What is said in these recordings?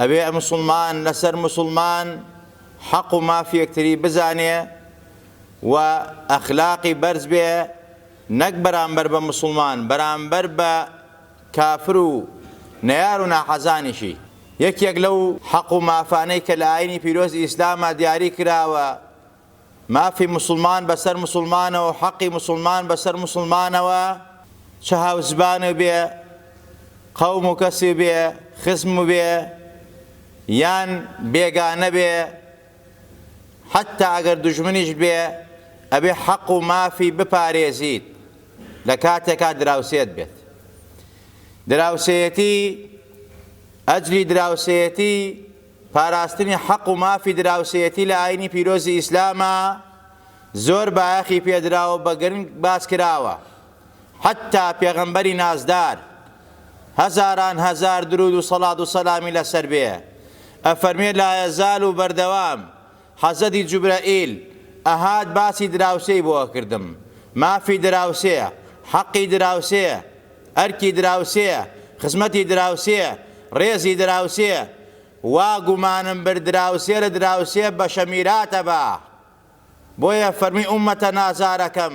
ئەبێ موسڵمان لەسەر موسڵمان حەق و مافی یەکتری بزانێ و ئەخلاقی بەرز بێ نەک بەرامبەر بە موسڵمان بەرامبەر بە کافر و نەیار و ناحەزانیشی. یەکێک لەو حەق و مافانەی کە لە ئاینی پیرۆزی ئیسلاما دیاری کراوە، مافی موسڵمان بەسەر موسڵمانەوەو حەقی موسڵمان بەسەر موسڵمانەوە چ هاوزبان و بێ قەوم و کەس و بێ خزم و بێ یان بێگانە بێ حەتا ئەگەر دوژمنیش بێ ئەبێ حەق و مافی بپارێزیت لە کاتێکا دراوسێت بێت دراوسێتی ئەجلی دراوسێتی پاراستنی حەق و مافی دراوسێیەتی لە ئاینی پیرۆزی ئیسلامە زۆر بایەخی پێدراوە بە گرنگ باس کراوە حەتا پێغەمبەری نازدار هەزاران هەزار درود و سەڵات و سەلامی لەسەر بێ ئەفەرمێ لا یەزال و بەردەوام حەسەدی جوبرەئیل ئەهات باسی دراوسێی بۆ ئەکردم مافی دراوسێیە حەقی دراوسێیە ئەرکی دراوسێیە خزمەتی دراوسێیە ڕێزی دراوسێیە وا گومانم برد دراوسێ لە دراوسێ بەشە میراتە با بۆیە فەرمی ئومەتە نازارەکەم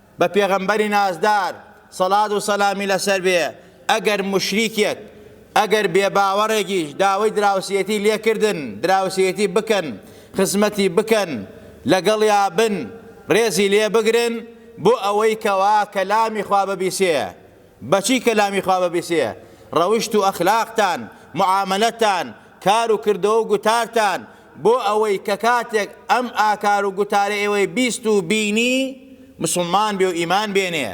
بە پێغەمبەری نازدار سەڵات و سەلامی لەسەر بێ ئەگەر موشریکێک ئەگەر بێ باوەڕێکیش داوەی دراوسێتی لێکردن دراوسێتی بکەن خزمەتی بکەن لەگەڵیا بن ڕێزی لێ بگرن بۆ ئەوەی کەوا کەلامی خوا ببیسێ بەچی کەلامی خوا ببیسێ ڕەوشت و ئەخلاقتان معامەلەتان کار و کردەوە و گوتارتان بۆ ئەوەی کە کاتێک ئەم ئاکار و گوتارە ئێوەی بیست و بینی مسوڵمان بێ و ئیمان بێنێ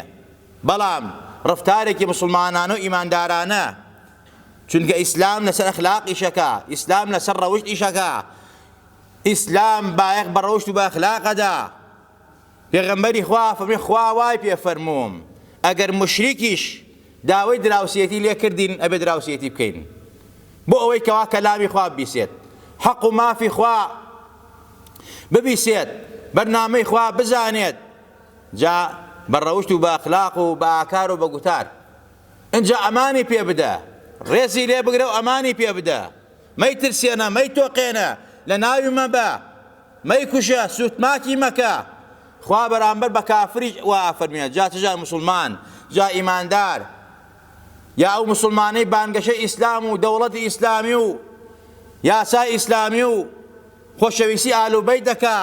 بەڵام ڕەفتارێکی مسوڵمانانە و ئیماندارانە چونکە ئیسلام لەسەر ئەخلاق ئیشەکا ئیسلام لەسەر ڕەوشت ئیشەکا ئیسلام بایەخ بە ڕەوشت و بە ئەخلاقەدا پێغەمبەری خوا فەرمووی، خوا وای پێ فەرمووم ئەگەر موشریکیش داوەی دراوسێتی لێ کردین ئەبێ دراوسێتی بکەین بۆ ئەوەی کەوا کەلامی خوا ببیسێت حەق و مافی خوا ببیسێت بەرنامەی خوا بزانێت جا بە ڕەوشت و بە ئەخلاق و بە ئاکار و بە گوتار ئەجا ئەمانی پێ بدە ڕێزی لێ بگرە و ئەمانی پێ بدە مەیترسێنە مەیتۆقێنە لە ناوی مەبە مەیکوژە، سووتماکی مەکە، خوا بەرامبەر بە کافریش وا ئەفەرموێت، جا چ جار موسڵمان، جا ئیماندار، یا ئەو موسڵمانەی بانگەشەی ئیسلام و دەوڵەتی ئیسلامی و یاسای ئیسلامی و خۆشەویستی ئال و بەیت دەکا،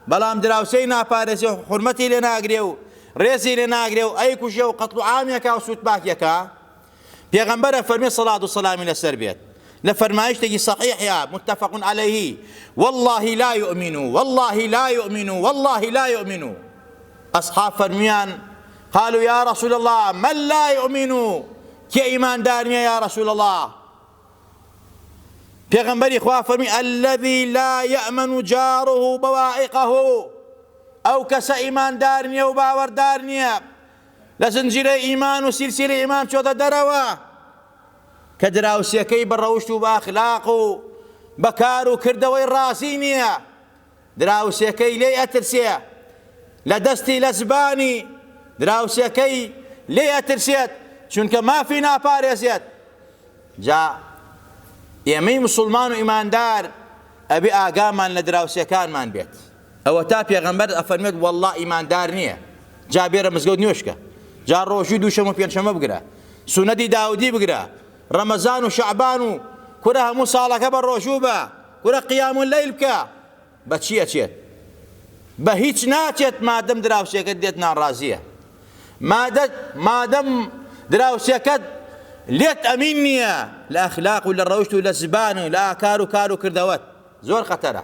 بەڵام دراوسێی ناپارێزێ و حورمەتی لێ ناگرێ و ڕێزی لێ ناگرێ و ئەیکوژێ و قەتڵ و عامی ئەکا و سووتماکی ئەکا، پێغەمبەر ئەفەرمێ سەڵات و سەلامی لەسەر بێت لە فەرمایشتێکی سەحیحیا متفق علیه والله لا یؤمن والله لا یؤمن والله لا یؤمن ئەصحاب فەرمیان قالوا يا رسول الله من لا يؤمن کێ ئیماندار نییە یا رسول الله پێغەمبەری خوا فەرمی الذي لا يأمن جاره بوائقه ئەو کەسە ئیماندار نییە و باوەڕدار نییە لە زنجیرەی ئیمان و سیلسیلی ئیمان چۆتە دەرەوە کە دراوسێکەی بە ڕەوشت و بە ئەخلاق و بە کار و کردەوەی ڕازی نییە دراوسێکەی لێی ئەترسێ لە دەستی لە زبانی دراوسێکەی لێی ئەترسێت چونکە مافی ناپارێزێت جا ئێمەی مسلمان و ئیماندار ئەبێ ئاگامان لە دراوسێکانمان بێت ئەوەتا پێغەمبەر ئەفەرموێت وەڵڵا ئیماندار نیە جا بێرە مزگەوت نوێژکە جا ڕۆژوی دووشەم و پێنجشەمە بگرە سونەتی داودی بگرە ڕەمەزان و شەعبان و کورە هەموو ساڵەکە بە ڕۆژوو بە کورە قیام و لەیل بکە بەچی ئەچێت بە هیچ ناچێت مادەم دراوسێکەت دێت ناڕازیە مادە مادەم دراوسێکەت لێت ئەمین نییە لە ئەخلاق و لە ڕەوشت و لە زبان و لە ئاکار و کار و کردەوەت زۆر خەتەرە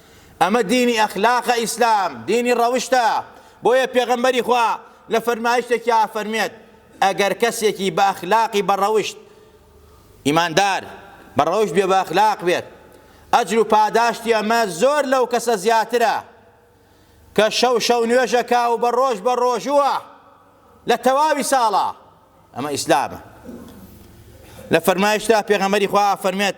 ئەمە دینی ئەخلاقە ئیسلام دینی ڕەوشتە بۆیە پێغەمبەری خوا لە فەرمایشتێکیا ئەفەرموێت ئەگەر کەسێکی بە ئەخلاقی بە ڕەوشت ئیماندار بە ڕەوشت بێ بە ئەخلاق بێت ئەجر و پاداشتی ئەمە زۆر لەو کەسە زیاترە کە شەو شەو نوێژەکە و بە ڕۆژ بە ڕۆژووە لە تەواوی ساڵە ئەمە ئیسلامە لە فەرمایشتا پێغەمەری خوا فەرمێت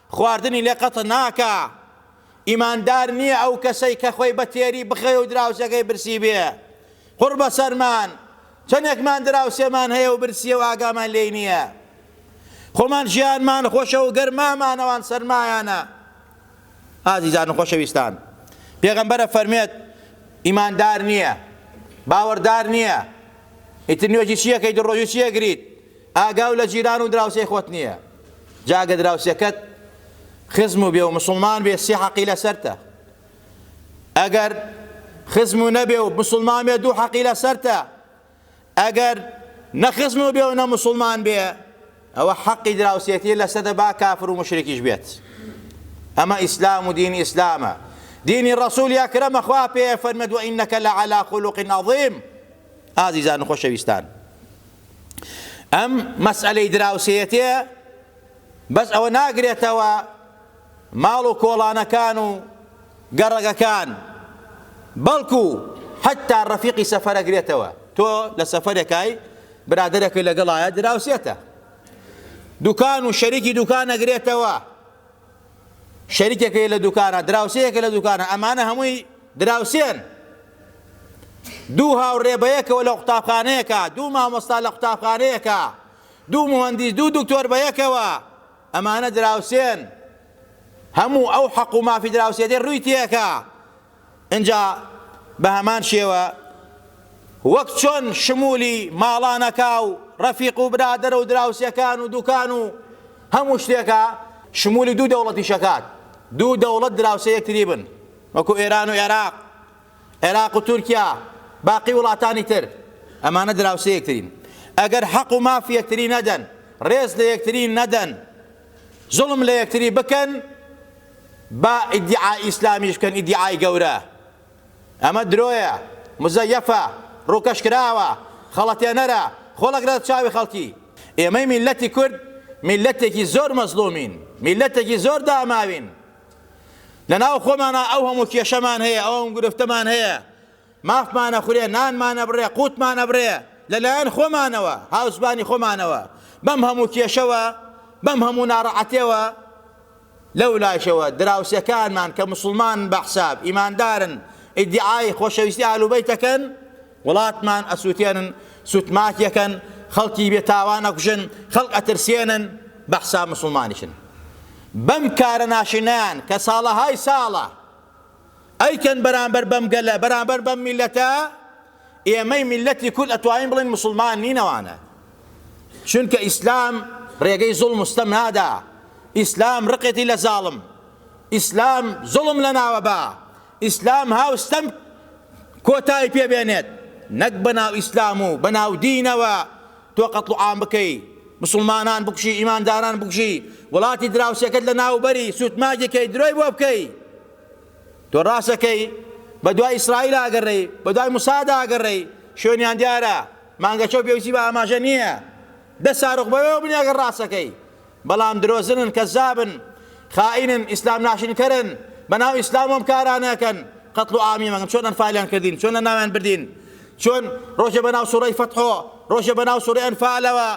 خواردنی لێ قەت ناکا. ئیماندار نیە ئەو کەسەی کە خۆی بە تێری بخەوێ و دراوسێکەی برسی بێ. قوڕ بە سەرمان، چەنێکمان دراوسێمان هەیە و برسیە و ئاگامان لێی نیە. خۆمان ژیانمان خۆشە و گەرمامان ئەوان سەرمایانە. ئازیزان و خۆشەویستان، پێغەمبەر ئەفەرمێت، ئیماندار نیە، باوەڕدار نیە، ئیتر نوێژی چی ئەکەیت و ڕۆژووی چی ئەگریت، ئاگا و لە جیران و دراوسێی خۆت نیە. جا گە دراوسێکەت خزم و بێ و مسلمان بێ سێ حەقی لەسەرتە ئەگەر خزم و نەبێ و مسلمان بێ دوو حەقی لەسەرتە ئەگەر نە خزم و بێ و نە مسلمان بێ ئەوە حەقی دراوسێتی لەسەدە با کافر و مشرێکیش بێت ئەمە ئیسلام و دینی ئیسلامە دینی ڕسوولی ئەکرەمە خوا پێ فەرمەدووە ئینەکە لە علا خولوقین عظیم ئازیزان و خۆشەویستان ئەم مەسئەلەی دراوسێیەتێ بەس ئەوە ناگرێتەوە ماڵ و کۆڵانەکان و گەڕەگەکان بەڵکو حتا ڕەفیقی سەفەرە گرێتەوە تۆ لە سەفەرەکای برادەرەکە لەگەڵایە دراوسێتە دوکان و شەریکی دوکان نەگرێتەوە شەریکەکەی لە دوکانە دراوسێیەکە لە دوکانە ئەمانە هەمووی دراوسێن دوو هاوڕێ بەیەکەوە لە قوتابخانەیەکە دوو مامۆستا لە قوتابخانەیەکە دوو مهندیس دوو دکتۆر بەیەکەوە ئەمانە دراوسێن هەموو ئەو حەق و مافی دراوسێتی ڕووی تێکە ئینجا بە هەمان شێوە وەک چۆن شمولی ماڵانەکە و ڕەفیق و برادەرە و دراوسێکان و دوکان و هەموو شتێکە شمولی دوو دەوڵەتیشەکات دوو دەوڵەت دراوسێ یەکتری بن وەکو ئێران و عێراق عێراق و تورکیا باقی وڵاتانی تر ئەمانە دراوسێ یەکترین ئەگەر حەق و مافی یەکتری نەدەن ڕێز لە یەکتری نەدەن زوڵم لە یەکتری بکەن با ئیدیعا ئیسلامیش بکەن ئیدیعای گەورە ئەمە درۆیە مزەیەفە ڕووکەش کراوە خەڵەتێنەرە خۆڵەگرە لە چاوی خەڵکی ئێمەی میللەتی کورد میللەتێکی زۆر مەزڵومین میللەتێکی زۆر داماوین لەناو خۆمانا ئەو هەموو کێشەمان هەیە ئەو هەموو گرفتەمان هەیە مافمان ئەخورێ، نانمان ئەبڕێ، قووتمان ئەبڕێ لە لایەن خۆمانەوە، هاوزبانی خۆمانەوە، بەم هەموو کێشەوە، بەم هەموو ناڕەعەتێوە، لەولاشەوە دراوسێکانمان کە موسڵمانن بە حساب، ئیماندارن، ئیدیعای خۆشەویستی ئەهل و بەیت ئەکەن، وڵاتمان ئەسووتێنن، سووتماکیەکەن، خەڵکی بێ تاوان ئەکوژن، خەڵک ئەترسێنن، بە حساب موسڵمانیشن. بەم کارە ناشرینەیان کە ساڵەهای ساڵە، ئەیکەن بەرامبەر بەم گەلە بەرامبەر بەم میلەتە ئێمەی میلەتی کورد ئەتوانین بڵێن موسڵمان نین ئەوانە چونکە ئیسلام ڕێگەی زوڵم و ستەم نادا ئیسلام ڕقێتی لە زاڵم ئیسلام زوڵم لە ناوە با ئیسلام هاو ستەم کۆتای پێبێنێت نەک بەناو ئیسلام و بەناو دینەوە تۆ قەتڵ عام بکەی مسلمانان بکشی ئیمانداران بکشی وڵاتی دراوسێکەت لە ناوبەری سوتماگێکەی درۆی بۆ بکەی تۆ ڕاست ئەکەی بە دوای ئیسرائیل ئاگەڕێی بە دوای موساد ئاگەڕێی شوێنیان دیارە مانگەچەو پێویستی بە ئاماژە نییە دە ساروخ بەوێەوە بنی ئەگەر ڕاستەکەی بەڵام درۆزنن کەزابن خائینن ئیسلام ناشرینکەرن بەناو ئیسلام ئەم کارانەکەن قەتڵ و عامی مەگەن چۆن ئەنفالیان کردین چۆن لە ناویان بردین چۆن ڕۆژە بەناو سوڕەی فەتحۆ ڕۆژە بەناو سوڕی ئەنفالەوە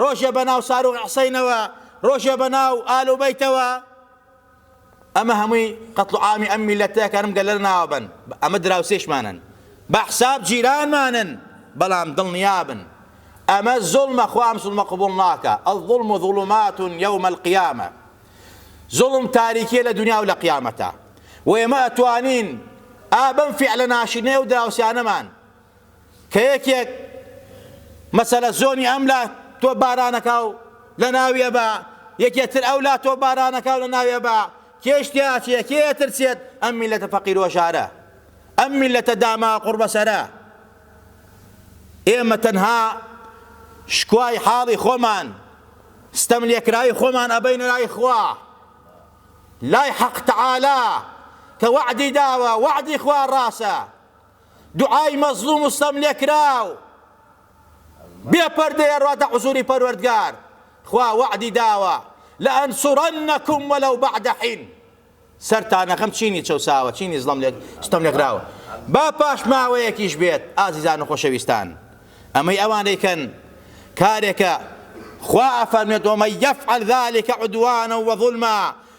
ڕۆژە بەناو ساروخ حسینەوە ڕۆژە بەناو ئالوبەیتەوە ئەمە هەمووی قەتڵ و عامی ئەم میللەتە کە ئەم گەلە لە ناوە بەن ئەمە دراوسێشمانن بە حساب جیرانمانن بەڵام دڵنیابن ئەمە زوڵمە خوا ئەم زوڵمە قبوڵ ناکا الظلم ظلمات یوم القیامە زوڵم تاریکیە لە دنیا و لە قیامەتا و ئێمە ئەتوانین ئابم فعلە ناشرینەیە و دراوسیانەمان کە یەکێک مەسەلە زۆنی ئەم لا تۆ بارانەکە و لە ناویە بە یەکێ تر ئەو لا تۆ بارانەکە و لە ناویە بە کێش تیاچێ کێ تر چێت ئەم میلەتە فەقیر و ژارە ئەم میلەتە داما قڕبەسەرە ئێمە تەنها شکوای حاڵی خۆمان ستەم لێکراوی خۆمان ئەبەینە لای خوا لای حەق تەعالا کە وەعدی داوە وەعدی خوا ڕاسە دوعای مەزلوم و ستەم لێکراو بێ پەردەیە ڕواتە حزوری پەروەردگار خوا وەعدی داوە لەئەنسورەنەکم وەلەو بەعدە حین سەرتانە خەم چینی چەوساوە چینی زڵم لێک ستەم لێکراوە با پاش ماوەیەکیش بێت ئازیزان و خۆشەویستان ئەمەی ئەوان دەیکەن کارێکە خوا ئەفەرمێت ومن یفعل ذلك عدوانا وظلما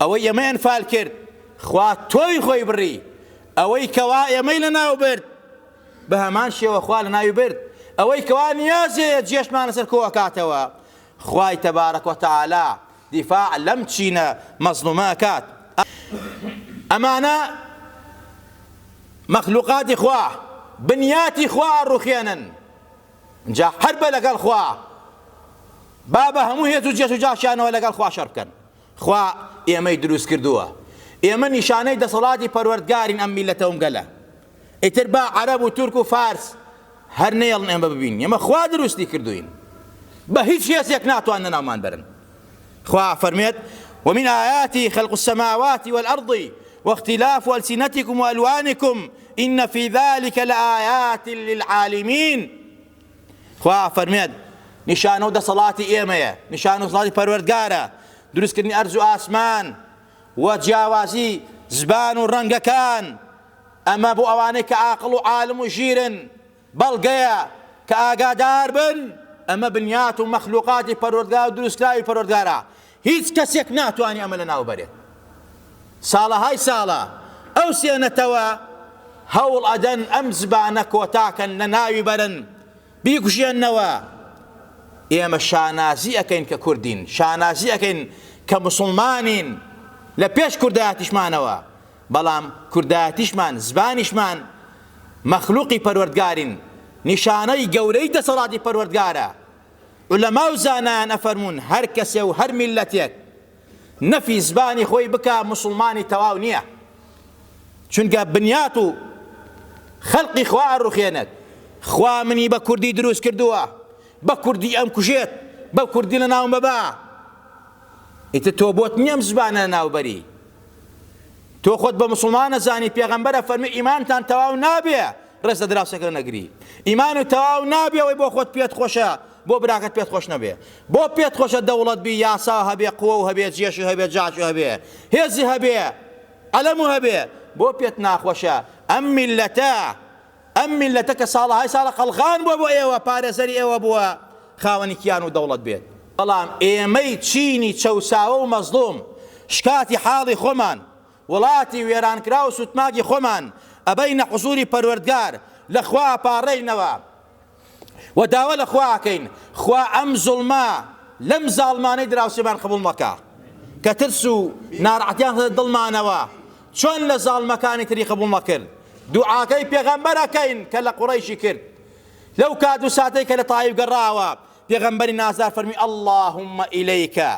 ئەوەی ئێمەی ئەنفال کرد خوا تۆوی خۆی بڕی، ئەوەی کەوا ئێمەی لەناو برد بە هەمان شێوە خوا لەناوی برد، ئەوەی کەوا نیازێ جێشمان لەسەر کۆ ئەکاتەوە خوای تبارک و تعالی دیفاع لەم چینە مەزڵومە ئەکات. ئەمانە مەخلوقاتی خوا بنیاتی خوا ئەڕوخێنن جا حەربە لەگەڵ خوا با بە هەموو هێز و جێش و جاشیانەوە لەگەڵ خوا شەڕ بکەن. خوا ئێمەی دروست کردووە ئێمە نیشانەی دەسەڵاتی پەروەردگارین ئەم میللەتە وم گەلە ئیتر با عەرەب و تورک و فارس هەر نەیەڵن ئێمە ببین ئێمە خوا دروستی کردوین بە هیچ هێزێک ناتوان نەناومان بەرن خوا فەرمێت ومن آياته خلق السماوات والأرض واختلاف ألسنتكم وألوانكم إن في ذلك لآيات للعالمين خوا ئەفەرمێت، نیشانە و دەسەڵاتی ئێمەیە، نیشانە و دەسەڵاتی پەروەردگارە، دروستکردنی ئەرز و ئاسمان، و جیاوازی زبان و ڕەنگەکان، ئەمە بۆ ئەوانەی کە عاقڵ و عالم و ژیرن بەڵگەیە کە ئاگاداربن، ئەمە بنیات و مەخلوقاتی پەروەردگار و دروستکراوی پەروەردگارە، هیچ کەسێک ناتوانێ ئەمە لەناو بەرێت. ساڵەهای ساڵە ئەو سێ نەتەوە هەوڵ ئەدەن ئەم زبانە کۆتاکەن لەناوی بەرن، بیکوژێننەوە. ئێمە شانازی ئەکەین کە کوردین، شانازی ئەکەین کە موسڵمانین، لە پێش کوردایەتیشمانەوە، بەڵام کوردایەتیشمان، زبانیشمان مەخلوقی پەروەردگارین، نیشانەی گەورەی دەسەڵاتی پەروەردگارە. عولەما و زانایان ئەفەرموون هەر کەسێ و هەر میللەتێک نەفی زبانی خۆی بکا موسڵمانی تەواو نییە چونکە بنیات و خەلقی خوا ئەڕوخێنێت خوا منی بە کوردی دروست کردووە بە کوردی ئەم کوژێت بە کوردی لە ناوم بەبا ئیتر تۆ بۆت نییەم زبانە ناوبەری تۆ خۆت بە مسلمان نەزانی پێغەمبەرە فەرمی ئیمانتان تەواو نابێ ڕێز لە دراوسێکە نەگری ئیمان و تەواو نابێ ئەوەی بۆ خۆت پێت خۆشە بۆ براکەت پێت خۆش نەبێ بۆ پێت خۆشە دەوڵەت بی یاسا هەبێ قوە و هەبێ جێشی هەبێ جاشی هەبێ هێزی هەبێ ئەلەم و هەبێ بۆ پێت ناخۆشە ئەم میلەتە ئەم میللەتە کە ساڵەهای ساڵە قەڵغان بووە بۆ ئێوە پارێزەری ئێوە بووە خاوەنی کیان و دەوڵەت بێت بەڵام ئێمەی چینی چەوساوە و مەزڵوم شکاتی حاڵی خۆمان وڵاتی وێرانکراو سوتماکی خۆمان ئەبەینە حزوری پەروەردگار لە خوا ئەپاڕێینەوە وە داوا لە خوا ئەکەین خوا ئەم زوڵمە لەم زاڵمانەی دراوسێمان قبوڵ مەکە کە ترس و نارەحەتیان خستە دڵمانەوە چۆن لە زاڵمەکانی تری قبوڵ نەکرد دوعاکەی پێغەمبەر ئەکەین کە لە قوڕەیشی کرد لەو کات و ساتەی کە لە تایب گەڕاوە پێغەمبەری نازدار فەرمی اللهم ئیلیکە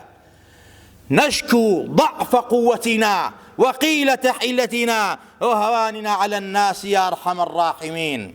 نشكو ضعف قوتنا وقيلة حيلتنا وهواننا على الناس يا أرحم الراحمين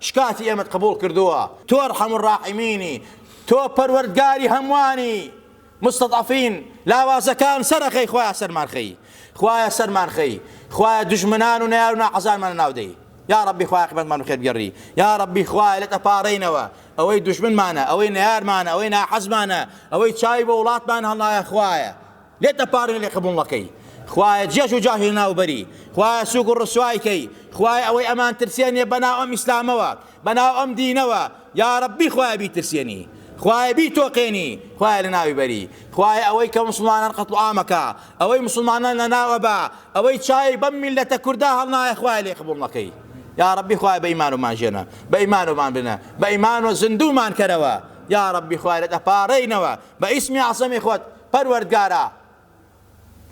شکاتی ئێمەت قبوڵ کردووە تۆ ارحم الراحمینی تۆ پەروەردگاری هەمووانی مستضعفین لاوازەکان سەرەخەی خوایە سەرمان خەی خوایە سەرمان خەی خوایە دوژمنان و نەیار و ناحەزانمان ناودەی یا ربی خوایە قیمەتمان بە خێر بگەڕی یا ربی خوایە لێت ئەپاڕێینەوە ئەوەی دوژمنمانە ئەوەی نەیارمانە ئەوەی ناحەزمانە ئەوەی چاوی بۆ وڵاتمان هەڵنایە خوایە لێت دەپارێنێ قبوڵنەکەی خوایە جێژ و جاهیل ناوبەری خوایە سوک و ڕسوای کەی خوایە ئەوەی ئەمان ترسێنێ بەناو ئەم ئیسلامەوە بەناو ئەم دینەوە یاڕەببی خوایە بیترسێنی خوایە بیتۆقێنی خوایە لەناوی بەری خوایە ئەوەی کە مسڵمانان قەتڵعامەکە ئەوەی مسڵمانان لەناوە بە ئەوەی چاوی بەم میلەتە کوردا هەڵنایە خوایە لێ قبوڵ نەکەی یا ربی خوای بە ئیمانومان ژێنە بە ئیمانومان بنە بە ئیمان و زیندومان کەرەوە یا ربی خوارێت ئەپارەینەوە بە ئیسمی عەسەمی خۆت پەروەردگارا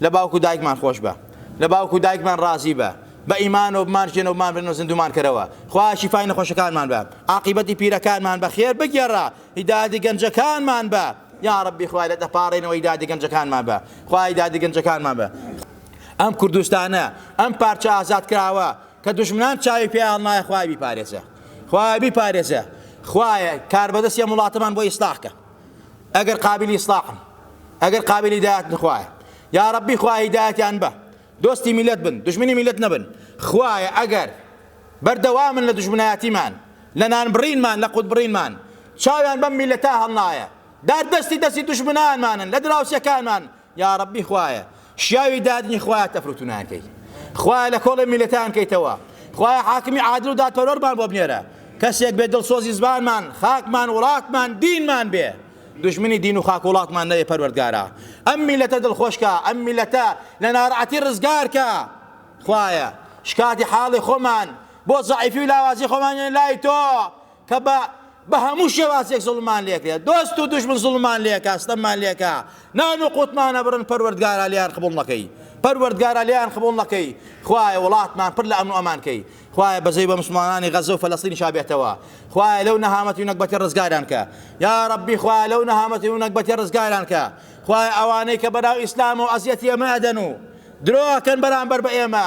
لە باوک و دایکمان خۆشبە لە باوک و دایکمان ڕازیبە بە ئیمانەوە بمانژێنەوە بمانبرن و زیندوومان کەرەوە خوایە شیفای نەخۆشەکانمان بە عاقیبەتی پیرەکانمان بە خێر بگێڕە هیدایەتی گەنجەکانمان بە یا ڕەبی خوای لە دەپاڕێنەوە هیدایەتی گەنجەکانمان بە خوای هیدایەتی گەنجەکانمان بە ئەم کوردستانە ئەم پارچە ئازاد کراوە کە دژمنان چاوی پێیان نایە خوای بیپارێزە خوای بیپارێزە خوایە کاربەدەستی ئەم وڵاتەمان بۆ ئیسلاح کە ئەگەر قابلی ئیسلاحن ئەگەر قابلی دایەت نخوایە یا ربی خوای هیدایەتیان بە دۆستی میلەت بن دژمنی میلەت نەبن خوایە ئەگەر بەردەوامن لە دژمنایەتیمان لە نان بڕینمان لە قوت بڕینمان چاویان بەم میلەتە هەڵنایە دار دەستی دەستی دژمنانمانن لە دراوسێکانمان یاڕەبی خوایە شیاوی دادنی خوایە تەفروتونان کەی خوایە لە کۆڵێ میلەتان کەیتەوە خوایە حاکمی عادل و دادپەروەرمان بۆ بنێرە کەسێک بێ دڵسۆزی زبانمان خاکمان وڵاتمان دینمان بێ دژمنی دین و خاک وڵاتمان نەوێ پەروەردگارە ئەم میلەتە دڵخۆشکە ئەم میلەتە لە ناڕعەتی ڕزگارکە خوایە شکاتی حاڵی خۆمان بۆ زعیفی و لاوازی خۆمان لای تۆ کە بە بە هەموو شێوازێک زوڵممان لێکرێت دۆست و دوژمن زوڵممان لێکا ستەممان لێکا نان و قوتمان نەبڕن پەروەردگارا لێیان قبوڵ نەکەی پەروەردگارا لێیان قبوڵ نەکەی خوایە وڵاتمان پر لە ئەمن و ئەمان کەی خوایە بەزەی بە مسلمانانی غەزە و فەلەستینی شابێتەوە خوایە لەو نەهامەتی و نەگبەتی ڕزگاران کە یا ربی خوایە لەو نەهامەتی و نەگبەتی ڕزگاران کە خوایە ئەوانەی کە بەناو ئیسلام و ئەزیەتی ئەمە ئەدەن و درۆکەن بەرامبەر بە ئێمە